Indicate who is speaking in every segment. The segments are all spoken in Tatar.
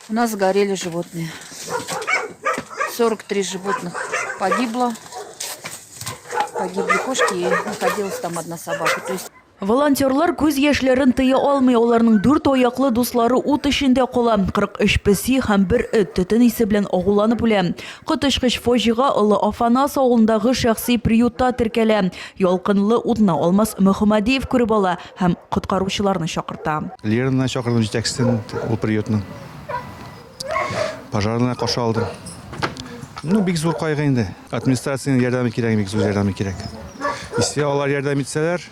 Speaker 1: У нас горели животные. 43 животных погибло. Погибли кошки и находилась там одна собака. То есть Волонтерлар күз
Speaker 2: яшьләрен тыя алмый, аларның дүрт аяклы дуслары ут эчендә кала. 43 песи һәм бер эт төтен исе белән агуланып үлә. Коточкыч фаҗига Олы Афанас авылындагы шәхси приютта теркәлә. Ялкынлы утны Алмаз Мөхәммәдиев күреп ала. Һәм коткаручыларны чакырта. Лераны чакырдым,
Speaker 3: җитәкчесен ул приютның. Пожарныйлар каршы алды. Ну, бик зур кайгы инде. Администрациянең ярдәме кирәк, бик зур ярдәме кирәк. Если алар ярдәм итсәләр,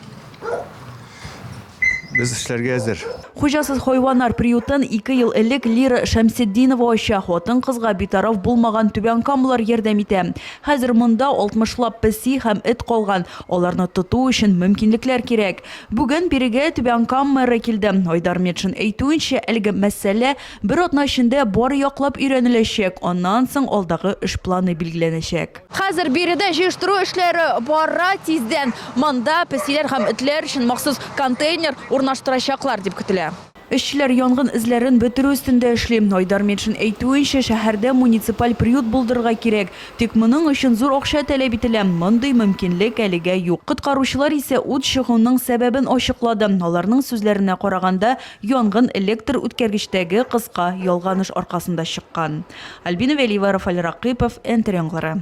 Speaker 3: без эшләргә әзер. Хуҗасыз хайваннар
Speaker 2: приютын ике ел элек Лира Шәмсетдинова ача. Хатын-кызга битараф булмаган түбәнкамлылар ярдәм итә. Хәзер монда алтмышлап песи һәм эт калган. Аларны тоту өчен мөмкинлекләр кирәк. Бүген бирегә Түбән Кам мэры килде. Айдар Метшин әйтүенчә, әлеге мәсьәлә бер атна эчендә бары яклап өйрәнеләчәк, аннан соң алдагы эш планы билгеләнәчәк. Хәзер биредә җыештыру эшләре бара, тиздән монда песиләр һәм этләр өчен махсус контейнер урнаштырачаклар дип көтелә. Эшчеләр янгын эзләрен бетерү өстендә эшли. Айдар Метшин әйтүенчә, шәһәрдә муниципаль приют булдырырга кирәк. Тик моның өчен зур акча таләп ителә. Мондый мөмкинлек әлегә юк. Коткаручылар исә ут чыгуның сәбәбен ачыклады. Аларның сүзләренә караганда, янгын электр үткәргечтәге кыска ялганыш аркасында чыккан. Альбина Вәлиева, Рафаль Ракыйпов, НТР яңгыры.